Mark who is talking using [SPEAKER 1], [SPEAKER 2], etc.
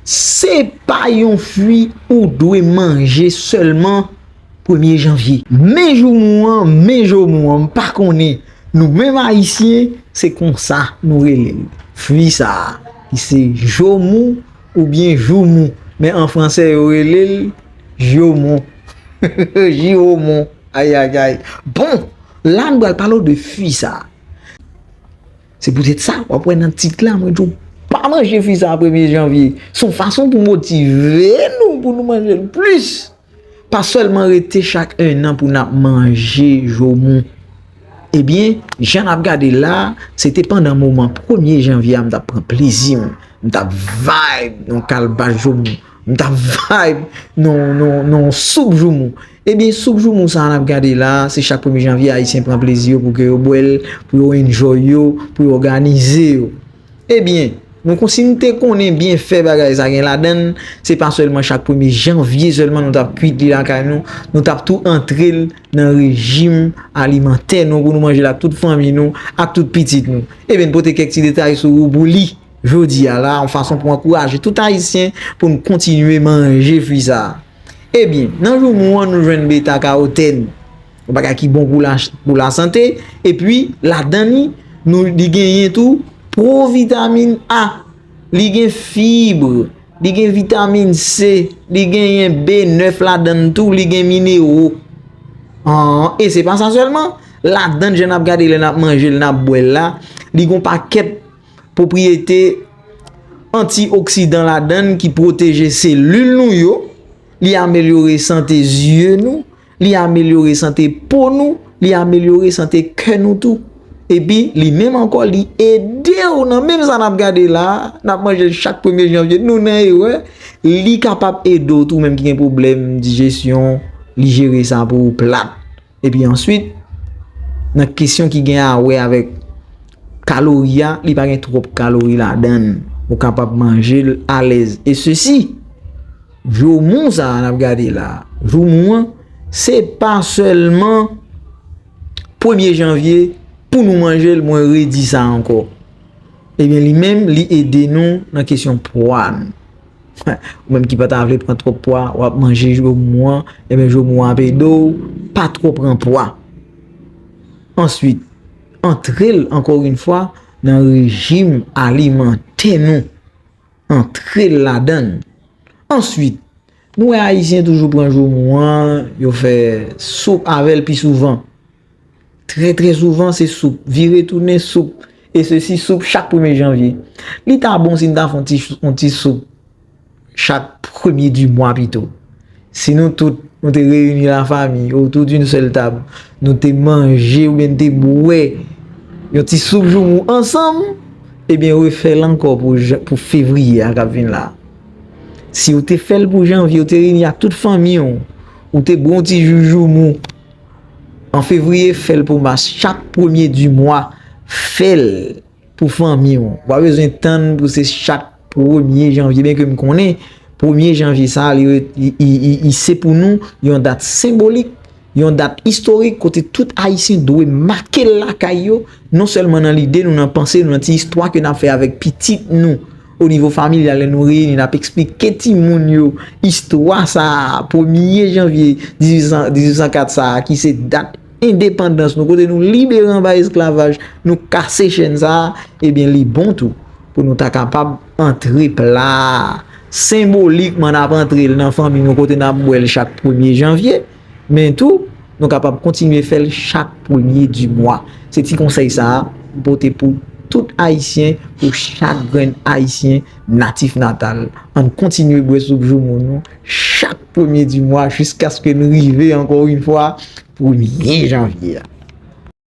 [SPEAKER 1] Se pa yon fwi ou dwe manje sèlman premye janvye. Men joumou an, men jomou an, m pa konnen, nou menm Ayisyen, se konsa nou rele l. Fwi sa a, ki se jomou oubyen joumou, men an franse yo rele l jiwomon, jiwomon, ayayay. Bon, la nou pral pale w de fwi sa a. Se poutèt sa, w ap wè nan tit la mwen di w pa manje fwi sa a premye janvye. Se yon fason pou motive nou pou nou manje l plis. Pa sèlman rete chak ennan pou n ap manje jomou. Ebyen, jan n ap gade la, se te pandan moman premye janvye a m t ap pran plezi m. M t ap vibe nan yon kalbas jomou. M t ap vibe nan yon soup jomou. Ebyen soup joumou sa a nap gade la a, se chak premye janvye ayisyen pran plezi yo pou ke yo bwè l, pou yo enjoy yo, pou yo òganize yo. Ebyen, nou kon si nou te konnen byenfè bagay sa gen ladan l, se pa sèlman chak premye janvye sèlman nou tap kwit li lakay nou, nou tap tou antre l nan rejim alimantè nou pou nou manje l ak tout fanmi nou, ak tout pitit nou. Ebyen n pote kèk ti detay sou ou pou li. Jodi a la a yon fason pou ankouraje tout ayisyen pou n kontinye manje fwi sa a. Ebyen, nan joumou an nou jwenn beta kawotenn, yon bagay ki bon pou lasante, epi ladan li, nou li genyen tou pwovitamin A, li gen fibre, li gen vitamin C, li genyen B9 ladan l tou, li gen minero. An, e se pa sa sèlman, ladan l jan n ap gade lè n ap manje l, n ap bwè l la, li gen yon pakèt pwopriyete antioksidan ladann ki pwoteje selil nou yo, li amelyore sante zye nou, li amelyore sante po nou, li amelyore sante kè nou tou. Epi, li menm ankò li ede ou nan menm sa nap gade la, nap manje chak premye janvye, nou nan erè, li kapab ede ou tou menm ki gen pwoblèm dijesyon, li jere sa pou ou plat. Epi answit, nan kesyon ki gen a wè avèk kalori a, li pa gen twòp kalori ladan, ou kapab manje l alèz. E sesi, joumou sa a n ap gade la, joumou an, se pa sèlman premye janvye pou nou manje l, mwen redi sa ankò. Ebyen li menm, li ede nou nan kesyon pwa nou. Ou menm ki pa ta vle pran twòp pwa, w ap manje jomou an, enben jomou an ap ede w pa twò pran pwa. Answit, antre l ankò oun fwa nan rejim alimantè nou. Antre l ladan l. Answit, nou wè Ayisyen toujou pran jomou an, yo fè soup avè l pi souvan. Trè trè souvan se soup, vire tounen soup, e se si soup chak premye janvye. Li ta bon si n ta fè yon ti soup chak premye di mwa pito. Si nou tout nou te reyini la fami otou doun sèl tab, nou te manje ou byen te bwè yon ti soup joumou ansanm, e byen refè l ankò pou fevriye a k ap vin la. Si ou te fè l pou janvye, ou te reyini ak tout fanmi ou, ou te bwè yon ti jou joumou. An fevriye fèl pou mas chak premye di mwa fèl pou fanmi ou pa bezwen tann pou se chak premye janvye byen ke m konnen premye janvye sa li se pou nou yon dat senbolik yon dat istorik kote tout ayisyen dwe make l lakay yo non sèlman nan lide nou nan panse nou nan ti istwa ke n ap fè avèk pitit nou. O nivo familyal lè nou reyini n ap esplike timoun yo istwa sa a, premye janvye 1804 sa a ki se dat endepandans nou kote nou libere anba esklavaj, nou kase chèn sa a, ebyen li bon tou pou nou ta kapab antre pla a senbolikman n ap antre l nan fanmi nou kote n ap bwè l chak premye janvye. Men tou, nou kapab kontinye fè l chak premye di mwa. Se ti konsèy sa a m pote pou tout Ayisyen, pou chak grenn Ayisyen natif natal. An n kontinye bwè soup joumou nou chak premye di mwa jiskaske n rive ankò yon fwa premye janvye a.